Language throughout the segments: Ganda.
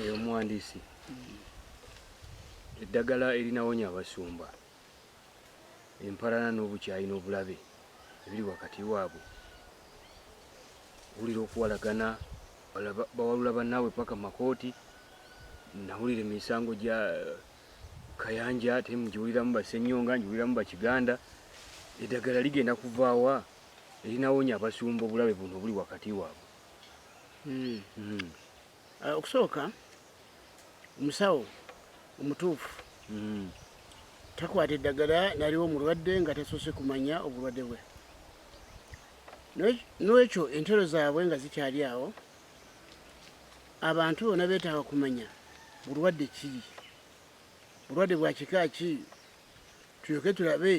Eyo muhandisi eddagala erinawonya abasumba empalana n'obukyayi n'obulabe ebiri wakati waabwe wulira okuwalagana bawalula bannaabwe paka makooti nawulira emisango gya eh, kayanja temu giwuliramu basenyonga ngiwuliramu bakiganda eddagala ligenda kuvaawa erinawonya abasumba obulabe buno obuli wakati waabwe hmm. Hmm. Uh, okusooka omusawo omutuufu mm. takwata eddagala naliwo omulwadde nga tasoose kumanya obulwadde bwe n'ekyo entero zaabwe nga zikyali awo abantu bona beetaaga kumanya bulwadde kiri bulwadde bwa kika ki tulyoke tulabe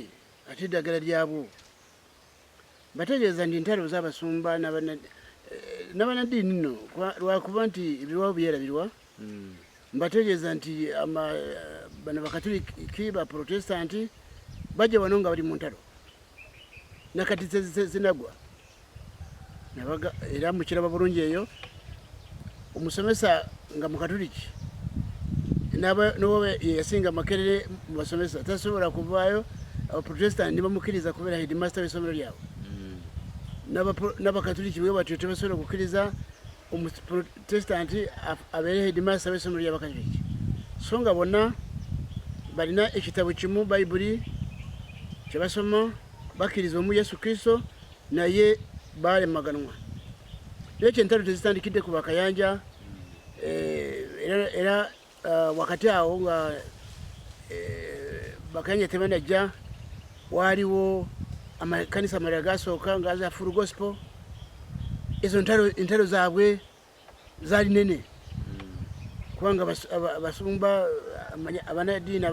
ate eddagala lyabwo bategeeza nti ntalo z'abasumba n'abanaddiini eh, nno lwakuba nti ebiwawo byerabirwa hmm. mbategeeza nti bano bakatuliki baprotestanti bajja wano nga bali mu ntalo nakati zinagwa era mukiraba bulungi eyo omusomesa nga mukatuliki noba yeyasinga makerere mu basomesa tasobola kuvaayo abaprotestant nibamukkiriza kubeera headmaster w'essomero lyabwe hmm. n'abakatuliki bwe batyo tebasobola okukkiriza omuprotestant abeere headmaster w'essomero ly'abakatuliki so nga bonna balina ekitabo kimu bayibuli kyebasoma bakkiriza omu yesu kristo naye baalemaganwa Naye ekyo entalo tezitandikidde ku bakayanja eh, era eh, wakati awo nga eh, bakayanja tebanajja waaliwo amakanisa amalala gasooka nga za full gospel ezo entalo zaabwe zaali nene kubanga abasumba abanadiini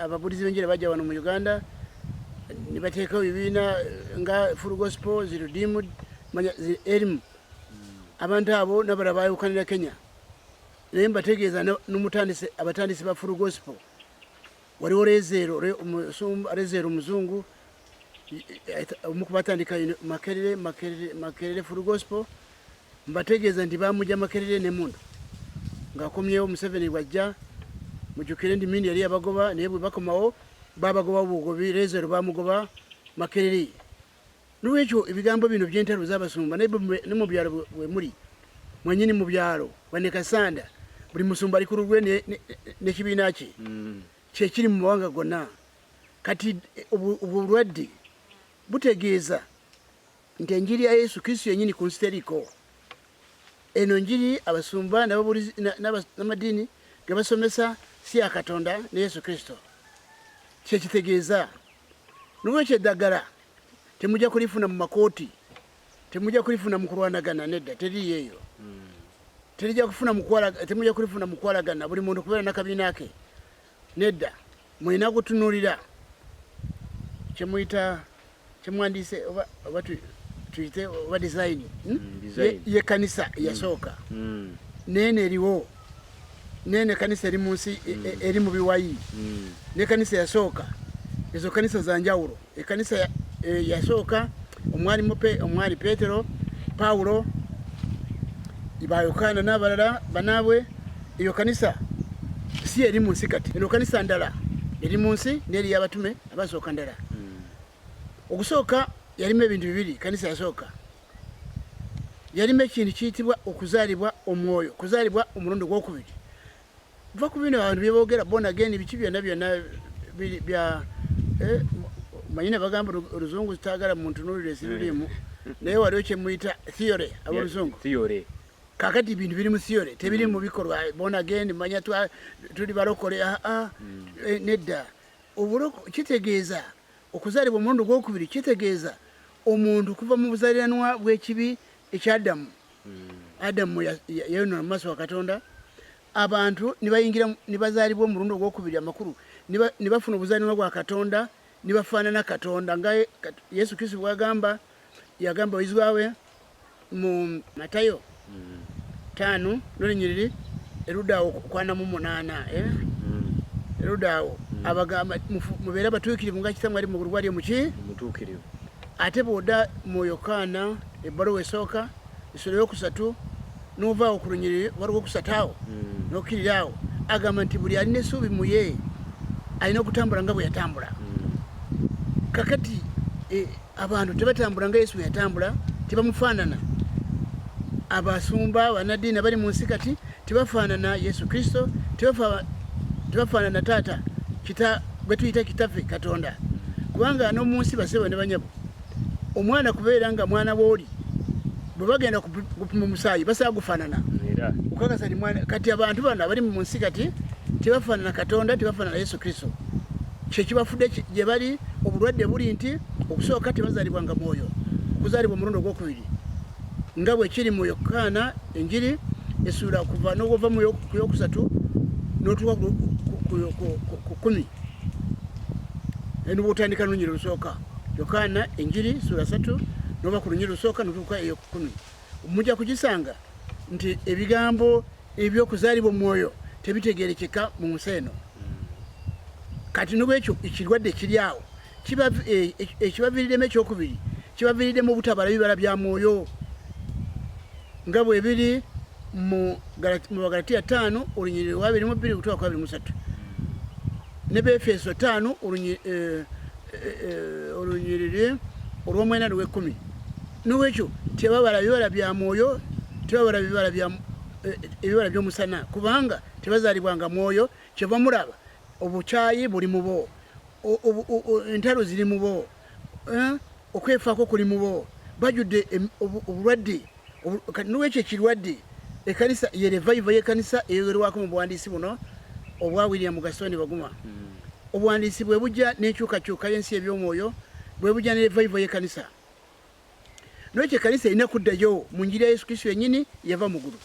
ababulizi benjira bajja wano mu uganda nibateekawo bibiina nga full gospel zirudimu manya erimu abantu abo nabala bayukanira kenya naye mbategeeza nomutandisi abatandisi ba full gospel waliwo rezeero rezeero omuzungu omu ku batandika makerere makerere makerere full gospel mbategeeza nti bamugya makerere nemundu ngaakomyewo museveni bwajja mujukire nti mindi yali yabagoba naye bwebakomawo babagoba bugobi rezeero bamugoba makerere Nolwekyo ebigambo bino byentalo zabasumba naye ne mu byalo wemuli mwenyini mu byalo wane kasanda buli musumba ali ku lulwe nekibiina kye mm. kyekiri mu mawanga gonna kati eh, obwo bulwadde butegeeza nti enjiri ya yesu kristo yenyini ku nsi teriko eno njiri abasumba n'amadiini ge basomesa si ya katonda ne yesu kristo kyekitegeeza Nolwekyo eddagala temujja kulifuna mu makooti, temujja kulifuna mu kulwanagana, nedda, teriri eyo. Hmm. Terija kufuna mukwala, temujja kulifuna mu kwalagana, buli muntu kubeera na kabiina ke, nedda. Mulina kutunulira kye muyita kye mwandise oba oba tuyite oba dizayini hmm? hmm, y'ekkanisa eyasooka, n'eno eriwo. nene kanisa eri munsi e, e, eri mu biwayi ne kanisa yasooka ezo kanisa za njawulo ekanisa e, yasooka omwali mupe omwali petero paulo ba yokaana n'abalala banaabwe eyo kanisa si eri mu nsi kati eno kanisa ndala eri mu nsi n'eri y'abatume abasooka ndala hmm. okusooka yalimu ebintu bibiri kanisa yasooka yalima ekintu kiyitibwa okuzaalibwa omwoyo okuzaalibwa omulundi ogwokubiri va ku bino abantu byebogera bona geni biki byonna byonna bya eh, manyi nebagamba oluzungu zitagala muntunulira esiririmu mm. naye waliwo kyemuyita theory aboluzungu kakati ebintu biri mu theory tebiri mu mm. bikolwa bona geni manya tuli balokole aa ah, ah, mm. eh, nedda kitegeeza Okuzaalibwa omulundi ogw'okubiri kitegeeza omuntu okuva mu buzaaliranwa bw'ekibi eky'Adamu. Adamu yayonoona mu maaso wa Katonda, abantu ne bayingira ne bazaalibwa omulundi ogw'okubiri amakulu ne bafuna obuzaaliranwa bwa Katonda ne bafaanana Katonda nga Yesu Kristo bw'agamba. yagamba abayizi baawe mu matayo mm. taano nolinyiriri erudaawo kwana mu munaana eh? mm. erudaawo mm. abagamba mubeere abatuukirivu nga kisa mwali mugulu gwali omuki ate bwoda mu yokaana ebbaluwa esooka esula yokusatu novaawo ku lunyiriri waliwo okusataawo hmm. nokiriraawo agamba nti buli alina esuubi muye alina okutambula nga bweyatambula hmm. kakati eh, abantu tebatambula nga yesu bweyatambula tebamufaanana abasumba banadiini abali mu nsi kati tebafaanana yesu kristo tebafaanana taata bwetuyita kitaffe katonda kubanga nomunsi basebo ne banyabo omwana kubeera nga mwana wooli bwebagenda kupima omusaayi basaa gufanana okakasa nimwana kati abantu bano abali mu nsi kati tebafanana katonda tebafanana yesu kristo kyekibafude gyebali obulwadde buli nti okusooka tebazalibwa nga mwoyo kuzalibwa omulundi ogwokubiri nga bwekiri mu yokaana enjiri esuula kuva nogova muyokusatu notuwa ku kumi eno bwotandika lunyiri lusooka yokaana enjiri sura satu noba ku lunyiri lusooka notuuka eyokukumi mujja kugisanga nti ebigambo ebyokuzaalibwa omwoyo tebitegerekeka mu nsi eno kati nobwekyo ekirwadde kiri awo ekibaviiriddemu ekyokubiri kibaviiriddemu obutabala bibala bya mwoyo nga bwe biri mu bagalatiya ttaano olunyiriri lwabiri mu bbiri okutuuka ku abiri musatu ne befeso ttaano eh, eh, eh, olunyiriri olw'omwena lw'ekkumi n'olwekyo tebabala bibala bya mwoyo tebabala bibala bya ebibala byomusana kubanga tebazalibwa nga mwoyo kyeva muraba Obukyayi buli mu bo, entalo ziri mu bo, eh, okwefaako kuli mu bo, bajudde obulwadde. Kati nolwekyo ekirwadde ekanisa ye revival yekanisa eyogerwako mu buwandiisi buno obwa William Gaston Baguma hmm. obuwandiisi bwe bujja n'enkyukakyuka y'ensi eby'omwoyo bwe bujja ne revival yekanisa nolwekyo ekanisa erina kuddayo mu njiri ya Yesu Kristo yennyini yava mu ggulu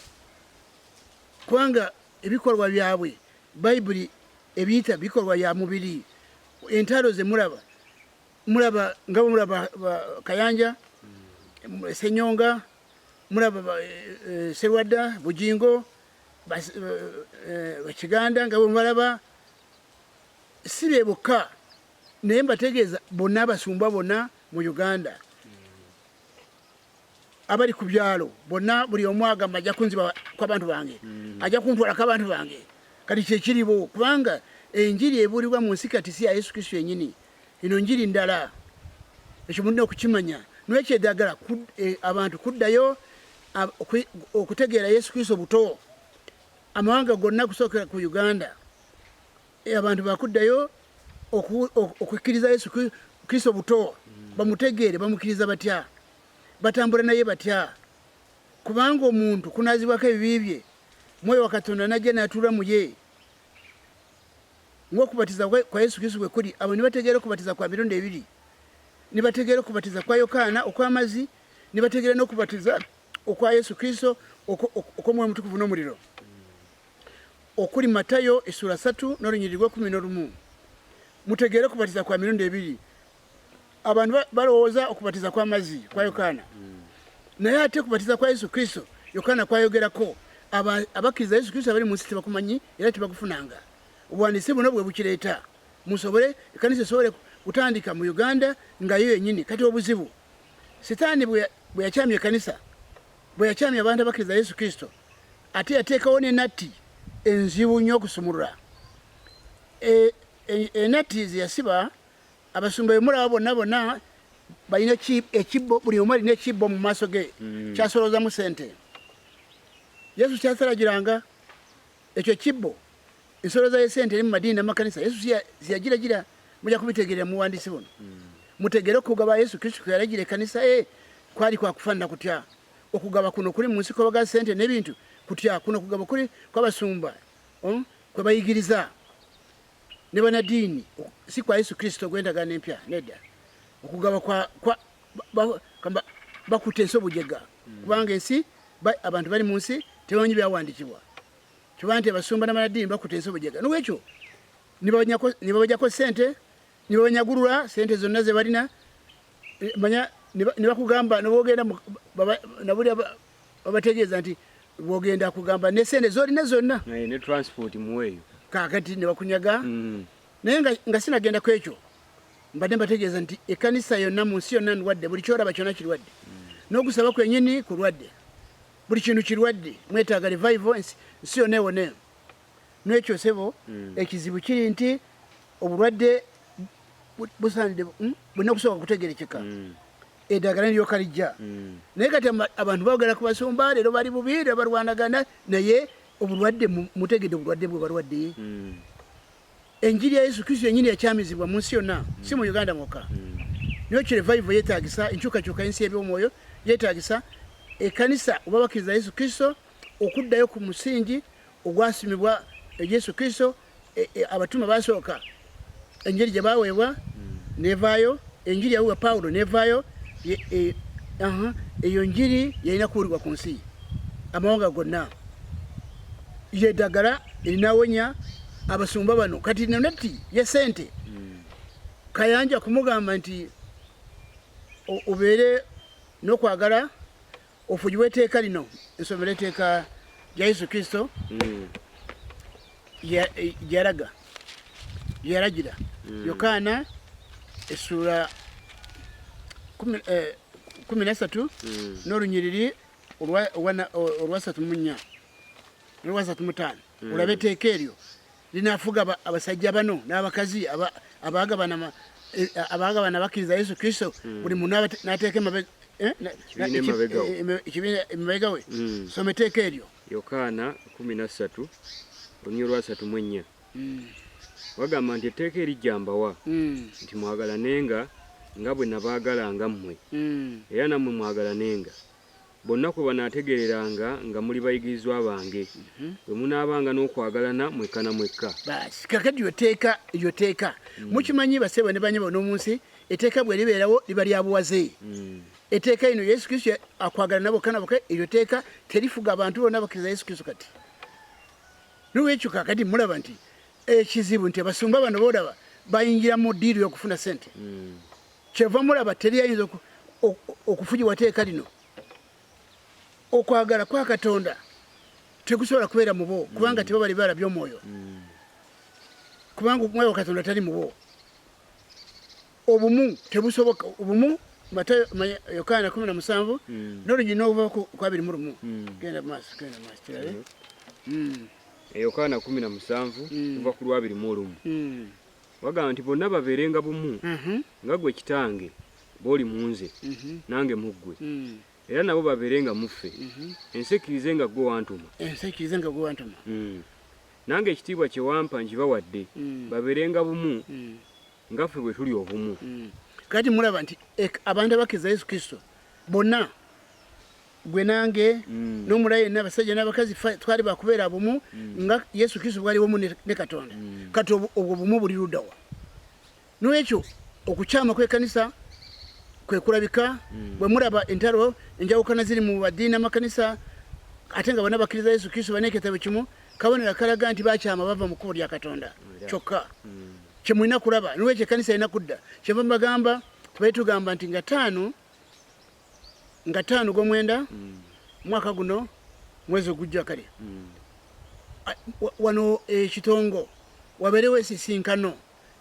kubanga Ebikolwa byabwe Bayibuli ebiyita bikolwa bya mubiri. Entalo ze mulaba mulaba nga mulaba Kayanja, Senyonga, mulaba eh, Serwadda, Bujingo, Bakiganda eh, eh, nga bwemubalaba si be bokka naye mbategeeza bonna abasumba bonna mu Uganda abali ku byalo bonna buli omu agamba ajja kunziba kwabantu bange mm. ajja kuntwalako abantu bange kati kyekiriwo kubanga enjiri ebuulibwa mu nsi kati si ya yesu kristo yenyini eno njiri ndala ekyo mulina okukimanya nwekyedagala eh, abantu kuddayo okutegeera yesu kristo buto amawanga gonna kusookera ku uganda Eh, abantu bakuddayo okukkiriza yesu kristo buto bamutegeere bamukkiriza batya batambula naye batya kubanga omuntu kunazibwako ebibi bye mwoyo wa katonda najja natuula muye ngaokubatiza kwa yesu kristo bwe kuli abo nibategeera okubatiza kwa mirundi ebiri nibategeera okubatiza kwa yokaana okw'amazzi nibategeera n'okubatiza okwa yesu kristo okw'omwoyo omutukuvu n'omuliro okuli Matayo essula satu n'olunyiriri lw'ekkumi n'olumu, mutegeere okubatiza kwa mirundi ebiri. Abantu balowooza okubatiza kw'amazzi kwa Yokaana, naye ate okubatiza kwa Yesu Kristo Yokaana kwayogerako abakkiriza Yesu Kristo abali mu nsi tebakumanyi era tebakufunanga. Obuwandiisi buno bwe bukireeta musobole ekkanisa esobole kutandika mu Uganda nga yo yennyini. Kati obuzibu sitaani bwe yakyamya ekkanisa, bwe yakyamya abantu abakkiriza Yesu Kristo, ate yateekawo ne natti enzibu nnyo okusumulula e, e, enatti e, zeyasiba abasumba bemulaba bonna bonna balina ekibbo buli omu alina ekibbo mu maaso ge mm. kyasoloozamu sente yesu kyasalagiranga ekyo kibbo ensolo za yesente eri mu madiini namakanisa yesu ziyagiragira muja kubitegerera muwandiisi buno mm. mutegere okugaba yesu kristu kwe yalagira ekanisa ye kwali kwakufanana kutya Okugaba kuno kuli mu nsikoba ga ssente n'ebintu kutya? Kuno kugaba kuli kw'abasumba oh, kwe bayigiriza ne banadiini, si kwa Yesu Kristo gw'endagaano empya. Nedda, okugaba bakutte ensi obujega, hmm. kubanga ensi abantu bali mu nsi tebamanyi byawandikibwa kiba nti abasumba nabanadiini bakuta ensi obujega nolwekyo nibabajako sente ne babanyagulula sente zonna ze balina manya ne bakugamba ne bogenda na buli babategeeza nti bogenda kugamba ne sente zolina zonna ne transport muweeyo kakati ne bakunyaga mm. naye nga sinagenda ku ekyo mbadde mbategeeza nti ekkanisa yonna mu nsi yonna ndwadde buli kyoraba kyonna kirwadde mm. n'okusaba kwenyini kulwadde buli kintu kirwadde mwetaaga revival ensi yonna ewoneyo Nekyo sebo mm. ekizibu kiri nti obulwadde busanide hmm? bulina kusooka kutegerekeka mm. edagala niryoka lijja mm. naye kati abantu bagala kubasumba leero bali bubi era balwanagana naye obulwadde mutegede obulwadde bwe balwadde mm. enjiri ya yesu kristo yenyini yakyamizibwa mu nsi yonna mm. si mu uganda mwokka mm. niyo kirevival yetagisa enkyukakyuka ensi ebyomwoyo yetagisa ekanisa oba bakiriza yesu kristo okuddayo ku musingi ogwasimibwa e Yesu Kristo e, e, abatume basooka enjiri gye baweebwa hmm. nevaayo enjiri yaweebwa Pawulo nevaayo e, eyo njiri yalina kuwulibwa ku nsi amawanga gonna yeddagala erinawonya abasumba bano kati nonatti ye sente hmm. kayanja kumugamba nti obeere n'okwagala Ofugi w'eteeka lino nsomero eteeka lya Yesu Kristo mm. gyeyalaga gyeyalagira mm. Yokaana essuula kumi eh, nasatu mm. n'olunyiriri olwasatu mu nnya n'olwasatu mu ttaano olaba eteeka eryo linaafuga abasajja bano n'abakazi abaagabana e, abaagabana bakkiriza yesu kristo hmm. buli muntu n'ateeka emabega eh, eh, eh, we hmm. soma eteeka eryo yokaana 13 olunywa lwasatu mu ennya hmm. wagamba nti etteeka erijja mbawa nti mwagalanenga nga bwe nabaagalanga mmwe era nammwe mwagalanenga Bonna kwe banaategeereranga nga muli bayigirizwa bange, bwe munaabanga n'okwagalana mwekka na mwekka. Baasi, kaakati iryo tteeka, iryo tteeka, mm. mukimanyi bassebo ne bannyabo n'omu nsi, etteeka bwe libeerawo liba lya buwaze. Mm. Etteeka ino Yesu Kristo akwagalana bokka na bokka, iryo tteeka terifuga abantu bonna abakkiriza Yesu Kristo kati. N'olwekyo kaakati mulaba nti ekizibu nti abasumba bano boolaba bayingira mu diiru y'okufuna ssente. Mm. kyeva mulaba teri ayinza okufugibwa teeka lino okwagala kwa katonda tekusobola kubeera mubo kubanga mm. tebabali balabye omwoyo mm. kubanga omwoyo katonda tali mubo obumu tebusoboka obumu matayo yokaana kumi na musanvu mm. nolugina okuva ku abiri mu lumu genda maaso genda maaso kirabe mm-hmm. eh, yokaana kumi na musanvu kuva ku lwabiri mu olumu wagamba nti bonna babeerenga bumu mhm. nga gwe kitange bw'oli mu nze mhm. nange mu ggwe mm. era nabo babeere nga muffe mhm. ensi ekkirize nga ggwe wantuma ensi ekkirize nga ggwe wantuma mm. nange ekitiibwa kye wampa nkibawadde mm. babeerenga bumu nga ffe bwe tuli obumu kati mulaba nti abantu abakkiriza yesu kristo bonna gwe nange mm. nomulayi yenna abasajja n'abakazi twali bakubeera bumu mm. nga yesu kristo bwali wamu ne katonda mm. kati obwo bumu buli ludawa nolwekyo okukyama kwekanisa kwekulabika bwe mulaba entalo enjawukana ziri mu badiini amakanisa ate nga bona bakkiriza yesu kristo baneketabo kimu kabonera kalaga nti bakyama bava mu kkubo lya katonda kyokka kyemulina kulaba nolwekyo ekanisa erina kudda kyeva mubagamba tubaye tugamba nti nga taano nga ttaano gwomwenda mm. mwaka guno mwezi ogujja kale mm. wano ekitongo eh, wabeerewo esisinkano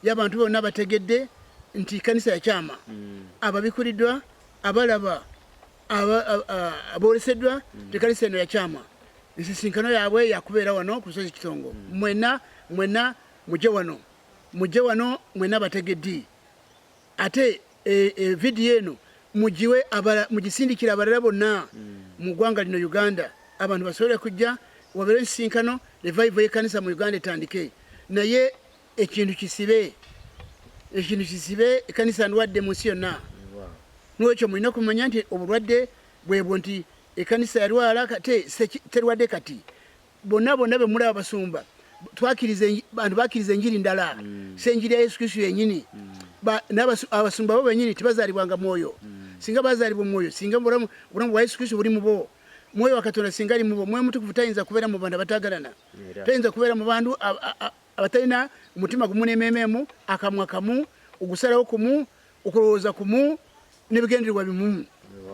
y'abantu bonna bategedde nti kanisa yakyama mm. ababikuliddwa abalaba aboleseddwa nti kanisa eno yakyama ensisinkano yaabwe yakubeera wano ku lusozi kitongo mwena mwena muje wano muje wano mwena bategeddi ate e, e, vidiyo eno mugiwe mugisindikire abalala bonna hmm. mu ggwanga lino uganda abantu basobole kujja wabeere ensisinkano revival yekanisa mu uganda etandike naye ekintu kisibe ekintu kisibe ekanisa ndwadde mu nsi yonna nwekyo mulina okumanya nti obulwadde bwebwo nti ekanisa yalwala kate terwadde kati bonna bonna be mulaba basumba twakiriza bantu bakiriza enjiri ndala mm. si enjiri ya yesu kristu yenyini mm. abasumba bo benyini tibazalibwanga mwoyo mm. singa bazalibwa omwoyo singa obulamu bwa yesu kristu buli mubo mwoyo wa katonda singa ali mubo mwoyo mutukuvu tayinza kubeera mu bantu abatagalana tayinza kubeera mu bantu abatalina omutima gumu n'emeeme emu akamwa kamu ogusalawo kumu okulowooza kumu n'ebigendererwa bimu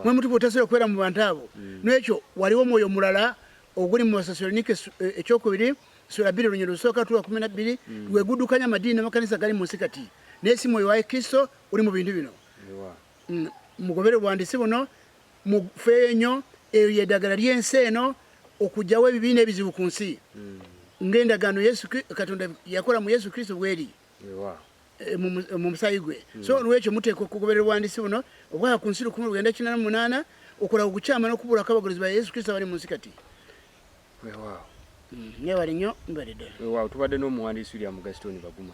mwe mutuba otasobola okubeera mu bantu abo mm. n'ekyo waliwo omwoyo omulala oguli mu basasolonike eh, ekyokubiri sula bbiri olunyero lusooka tuwa kumi na bbiri mm. lweguddukanya amadiini n'amakanisa gali mu nsi kati naye si mwoyo wa kristo uli mu bintu bino mm. mugobere obwandisi buno mufeeyo nnyo eyo yedagala lyensi eno okugyawo ebibi nebizibu ku nsi hmm. ngaendagaano katonda yakola mu yesu kristo bweri eh, mu musayi gwe hmm. so olwekyo muteeka okugoberera obwandisi buno obwaa ku nsi lukumi lugenda kinana munaana okola okukyama nokubulako abagozi ba yesu kristo abali mu nsi kati mwebale hmm. nnyo mbalidde tubadde n'omuwandiisi ulya mugasitoni baguma